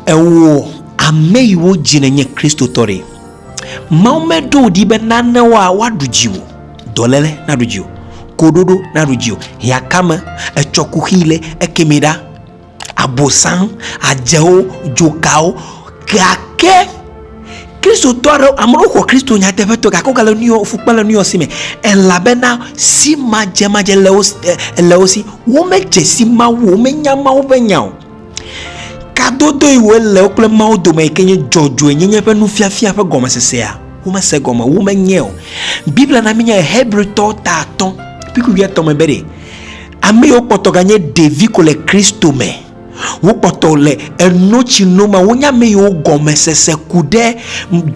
Ewɔ ame yi wo dzi nenye Kristotɔ ɖe. Mawu meɖo wò ɖi be nane woa woaɖu dziwò, dɔlele naɖu dziwò, koɖoɖo naɖu dziwò, hiãkame, etsɔ kuxi le ekemi ɖa, abosan, adzewo, dzokawo. Gake Kristotɔ aɖewo, ame aɖewo xɔ Kristo nyateƒetɔe gake wogale nuyɔ, fukpe le nuyɔ si me elabena simadzemadze le wo, le wo si. Womedze si Mawu o, womenya Mawu ƒe nya o. Kadodoe wòle wo kple Mawu dome yi ke nye dzɔdzɔenyenye ƒe nufiafia ƒe gɔmesesea? Womese egɔme o, womenyae o. Biblia na míenyae Hebritɔ ta atɔ̃ kple kpukpui etɔ̃ me be ɖe ame yiwo kpɔtɔ ganye ɖevi ko le Kristo me, wokpɔtɔ le enotsino me, wonye ame yiwo gɔmesese ku ɖe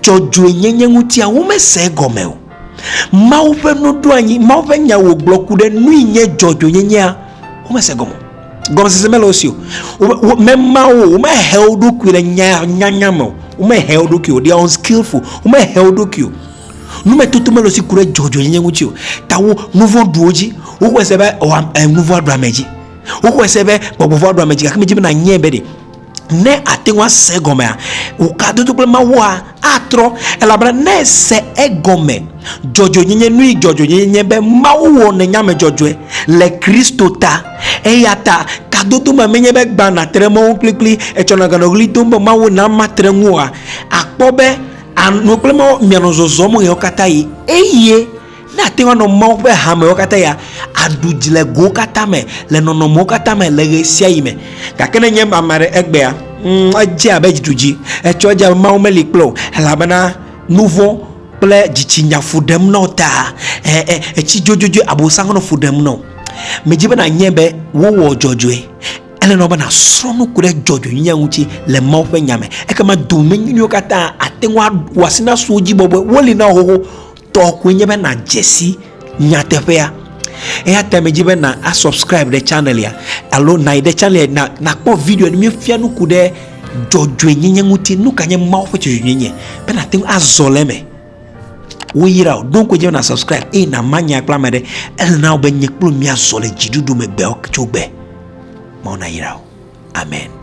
dzɔdzɔenyenye ŋutia, womese egɔme o. Mawu ƒe nuɖoanyi, Mawu ƒe nya wògblɔ ku ɖe nui nye dzɔdzɔenyenyea? Womese egɔme o. gɔmesese mele wo si o mema wo womehe wo ɖokui le nyanya me o womehe wo ɖokui o they are unskillful womehe wo ɖokui o numetoto mele si ku ɖe dzɔdzɔnyenye ŋuti o ta wo nuvɔ ɖuwo dzi wowɔe se be nuvɔ ɖu ame dzi wowɔe se be gbɔgbɔvɔ ɖu ame dzi gake medzi be nanyɛ be ɖe ne ate ŋu ase egɔmea, wòkadodo kple Mawua atrɔ, elabena ne ese egɔme dzɔdzɔenyenye nui dzɔdzɔenyenye nye be Mawu wɔ nènyame dzɔdzɔe le Kristo ta. Eya ta kadodo ma menye be gbã nàte ɖe mɔwo kplikpli etsɔ nɔ aganɔ ɣli dom be Mawu na matre ŋu oa? Àkpɔ be ànɔ kple Mawu mianɔ zɔzɔm ɣeawo katã ɣi. Eye Ne àte ŋu anɔ Mawu ƒe hamewo katã ya, àɖu dzi le gowo katã me, le nɔnɔmewo katã me, le ɣe sia ɣi me. Gake ne nye ame aɖe egbea, mm, edze abe dzi dzi. Etsɔ edze abe Mawu meli kple wò, elabena nuvɔ̃ kple dzitsinya fu ɖem na wò ta. E, e, etsi dzodzodzoe Abosam nɔ fu ɖem na wò. Medzi be nànyae be wowɔ dzɔdzɔe. Ele na wò be nàsrɔ̃ nu ku ɖe dzɔdzɔenyenye ŋuti le Mawu ƒe Nya me. Ekema domenyinyiwo katã ate ŋu awɔ asi na suwòdzibɔbɔe. Woli na wò xoxo. tɔ koe nye be nadze si nyateƒea. Eya ta medzi be na asubscribe ɖe channelia alo nayi ɖe channelia na nakpɔ video ne míefia nuku ɖe dzɔdzɔenyenye ŋuti nu ka nye Mawu ƒe dzɔdzɔenyenye be nate ŋu azɔ le eme. Woyra o ɖo koe dze be na subscribe eye nama nya kple ame aɖe ele na wo be nye kple míazɔ le dziɖuɖu me gbewo tso gbe. Mawu nayra o. Amen.